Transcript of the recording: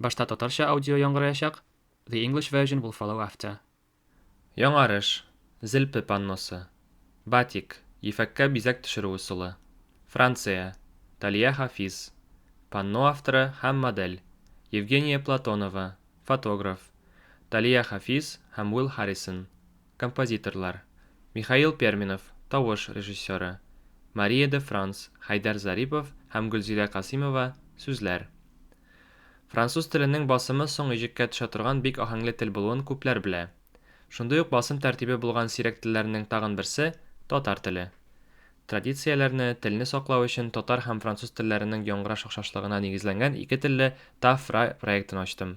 Башта татарча аудио яңгыраячак, the English version will follow after. Яңарыш, Зелпе панносы. Батик, ефәккә бизәк төшерү ысулы. Франция, Талия Хафиз. Панно авторы һәм модель, Евгения Платонова, фотограф, Талия Хафиз һәм Уилл Харрисон. Композиторлар, Михаил Перминов, тавыш режиссеры, Мария де Франс, Хәйдәр Зарипов һәм Гөлзилә Касыймова, сүзләр. Француз теленең басымы соң иҗеккә төшә торган бик аһәңле тел булуын күпләр белә. Шундый ук басым тәртибе булган сирәк телләрнең тагын берсе, татар теле. Традицияләрне, телне саклау өчен татар һәм француз телләренең яңгыраш охшашлыгына нигезләнгән ике телле ТАФ-ра проектын ачтым.